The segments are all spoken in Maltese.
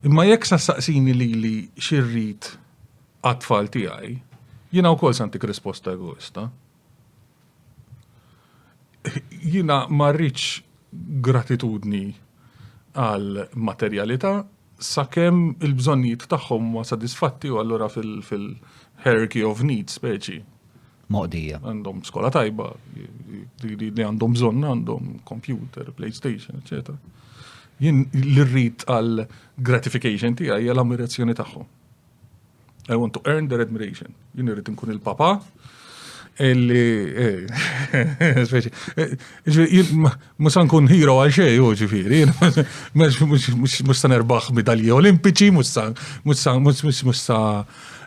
Imma jekk sa saqsini lili xi rrid għat-tfal tiegħi, jiena wkoll se ntik risposta egoista. Jiena ma rridx gratitudni għal materjalità sakemm il-bżonnijiet tagħhom huma sodisfatti u allura fil-hierarchy of needs speċi moqdija. Għandhom skola tajba, li għandhom bżonn għandhom computer, PlayStation, etc. Jien l-rrit għal gratification tiegħi għal ammirazzjoni tagħhom. I want to earn their admiration. Jien irrid nkun il-papa illi eh, speċi. Eh, mhux nkun hero għal xej u ġifieri, mhux se nerbaħ medalji olimpiċi, mhux sa mhux sa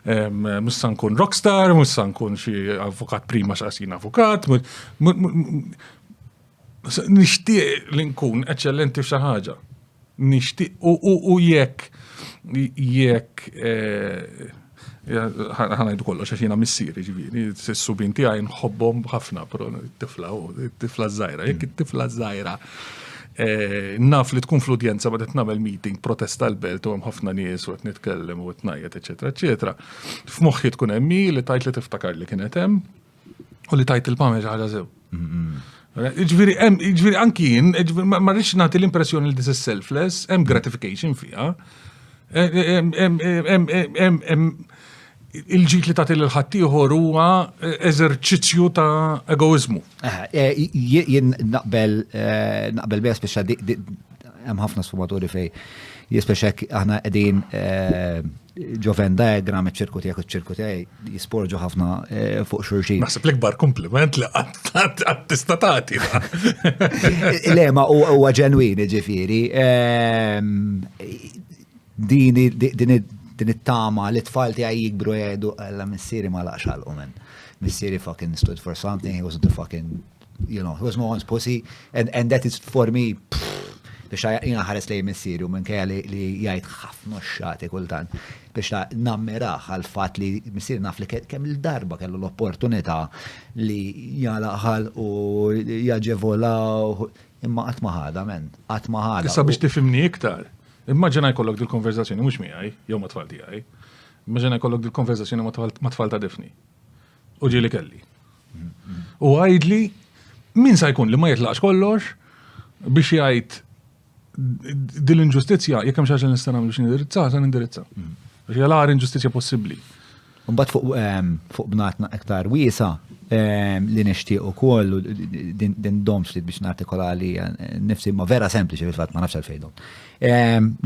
Mhux se nkun rockstar, mhux se nkun xi avukat prima x'qasin avukat. Nixtieq li nkun eċċellenti f'xi ħaġa. Nixtieq u jekk jekk eh, ħanajdu kollox għax jiena missieri ġifieri, s-subin tiegħi nħobbhom ħafna, però tifla tifla żgħira, jekk it-tifla żgħira Eh, naf li tkun fl-udjenza ma qed nagħmel meeting protesta l-belt u hemm ħafna nies u qed nitkellem u qed ngħid eċetera eċetera. F'moħħi tkun hemm li tajt li tiftakar li kienet hemm u li tajt il-pamel ħaġa sew. Ġviri, ġviri, anki jien, ma rridx nagħti l-impressjoni li this is selfless, hemm gratification fiha. il-ġid li tagħti lil ħaddieħor huwa eh, eżerċizzju ta' egoizmu. Eh, jien naqbel eh, naqbel biha speċa hemm ħafna sfumaturi fej jispeċa aħna qegħdin ġoven diagram iċ-ċirku tiegħek iċ-ċirku tiegħi jisporġu ħafna fuq xurxin. Naħseb l-ikbar kompliment li qatt tista' tagħti. Lema huwa ġenwin ġifieri. Ehm, Din it-tama li t-tfal tiegħi jikbru jgħidu għalla missieri ma laqx għalqu minn. Missieri fucking stood for something, he was the fucking, you know, he was no one's pussy, and, and that is for me, biex jina ħares lej missieri u minn kajja li jgħid ħafna xati kultan, biex ta' nammiraħ għal-fat li missieri naf li kemm il-darba kellu l-opportunità li jgħalaħal u jaġevolaw, imma għatmaħada, men, għatmaħada. Issa biex tifimni iktar. Immaġina jkollok dil-konverzazzjoni mhux miegħi, jew ma' tfal tiegħi. Immaġina jkollok dil-konverzazzjoni ma' tfal ta' difni. U ġieli kelli. U għajdli min sa jkun li ma jitlaqx kollox biex jgħid din l-inġustizzja jekk hemm xi ħaġa nista' nagħmel biex nindirizza, sa nindirizza. Għax hija l-għar inġustizzja possibbli. Mbagħad fuq fuq bnatna iktar wiesa li nixtieq ukoll din dom ftit biex nartikola li nifsi ma vera sempliċi fil-fatt ma nafx għalfejdhom.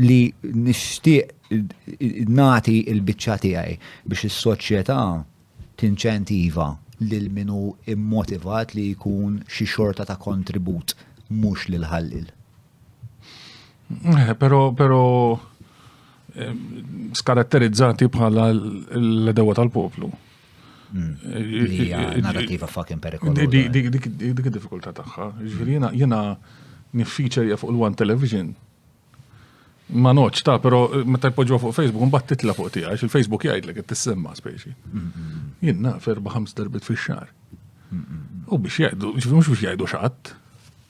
Li nixtieq nagħti l-biċċa tiegħi biex is-soċjetà tinċentiva lil minu immotivat li jkun xi xorta ta' kontribut mhux lil ħallil. Eh, pero, pero, eh, skaratterizzati bħala l-edewa tal-poplu. Hmm. Eh, narrativa fucking perikolosa. Dik id-diffikulta tagħha. Ġifieri jiena jiena niffiċerja fuq l-One Television. Ma noċ ta' pero meta jpoġġuha fuq Facebook mbagħad titla' fuq tiegħi il-Facebook jgħidlek qed tissemma speċi. Hmm, hmm, Jien naf erba' ħams darbit fix-xahar. U biex jgħidu, ġifieri mhux biex jgħidu xatt.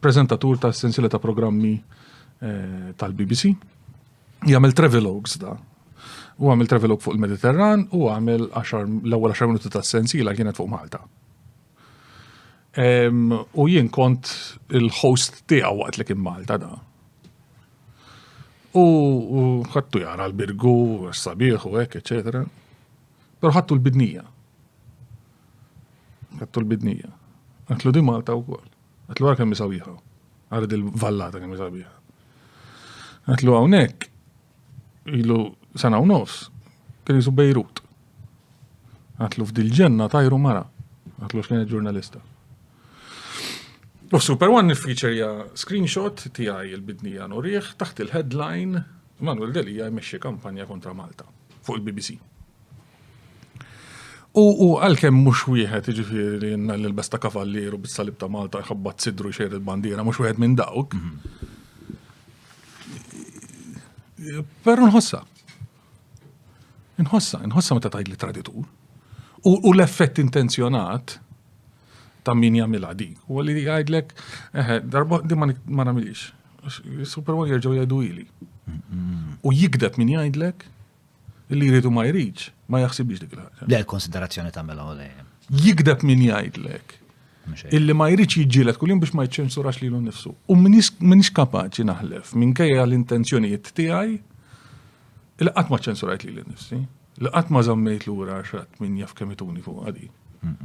Prezentatur ta' sensiela ta' programmi eh, tal-BBC. Jagħmel travelogues da. U għamel travelogue fuq il-Mediterran u għamel l-ewwel 10 minuti ta' sensiela kienet fuq Malta. U jien kont il-host tiegħu waqt li kien Malta da. U ħattu jara l-birgu, s-sabiħ u hekk, eċetera. Pero ħattu l-bidnija. Għattu l-bidnija. Għatlu di Malta u kol. Għatlu għar kemmi sabiħa. Għar di l-vallata kemmi sabiħa. Għatlu għawnek, ilu sena u nofs, kien jisu Bejrut. Għatlu f'dil-ġenna tajru mara. Għatlu xkien ġurnalista. U Super One niffiċerja screenshot tijaj il-bidnija nuriħ taħt il-headline Manuel Delija jmexxi kampanja kontra Malta fuq il-BBC. U, u, għalkemm mhux wieħed, jiġifieri li jenna l-ilbes ta' kavallier u bis-salib ta' Malta jħabbat sidru jxejr il-bandiera, mhux wieħed minn dawk. Però nħossa. Nħossa, nħossa meta tgħid li traditur. U, u l-effett intenzjonat ta' min jagħmilha di. U li jgħidlek, eħe, darba di ma nagħmilix. Super Bowl jerġgħu jgħidu ili. U jikdeb min jgħidlek Illi jrid u ma jridx, ma jaħsibx dik il-ħaġa. Le l-konsiderazzjoni tagħmilha u dejjem. Jikdeb min jgħidlek. Illi ma jridx jiġġieled kuljum biex ma jċensurax lilu nnifsu. U minix kapaċi naħlef minkejja l-intenzjonijiet tiegħi li qatt ma ċensurajt lili nnifsi, li qatt ma żammejt lura għax rat min jaf kemm ituni fuq għadi.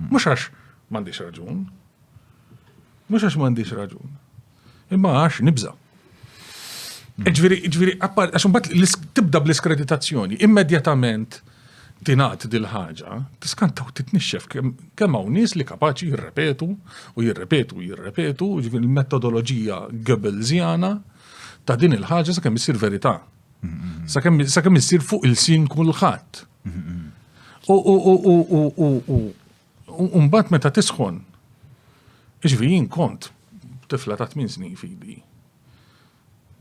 Mhux għax m'għandix raġun. Mhux għax m'għandix raġun. Imma għax nibża. E ġviri, ġviri, għax mbagħad tibda bl-iskreditazzjoni, immedjatament tingħad dil-ħaġa, tiskanta u titnixxef kemm hawn nies li kapaċi jirrepetu u jirrepetu u jirrepetu, ġviri l-metodoloġija Goebbelsiana ta' din il-ħaġa sa' kemm issir verità. Sa' kemm issir fuq il-sin kulħadd. U U mbagħad meta tisħon, ġifi jien kont tifla ta' tmien snin fidi.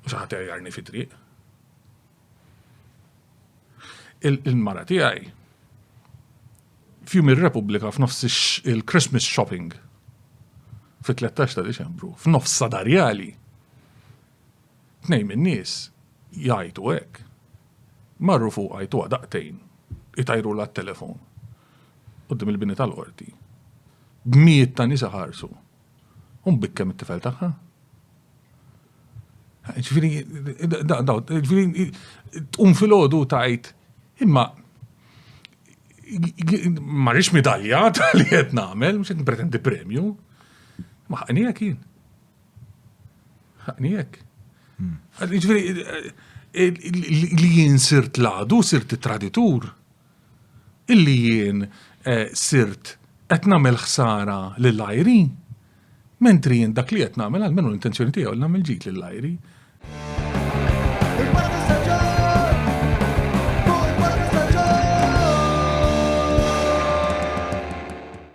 U xi ħadd jarni fi triq. Il-mara tiegħi fjum ir-Repubblika f'nofs il-Christmas shopping fit-13 ta' Deċembru, f'nofs sadarjali, tnejn minn nies jgħajtu hekk. Marru fuq għajtu daqtejn, itajru la telefon qudiem il-bini tal-qorti, b'mijiet ta' nisa ħarsu, un bikkem it-tifel tagħha. Ġifieri, ġifieri, tqum fil-ħodu tajt, imma ma rix midalja ta' li qed nagħmel, mhux qed npretendi premju. Ma ħaqnijek jien. Ħaqnijek. Hmm. Ġifieri, li jien sirt ladu, sirt traditur. illi jien sirt qed nagħmel ħsara lil għajri, mentri jien dak li qed nagħmel, almenu l-intenzjoni tiegħi li nagħmel ġid lil għajri.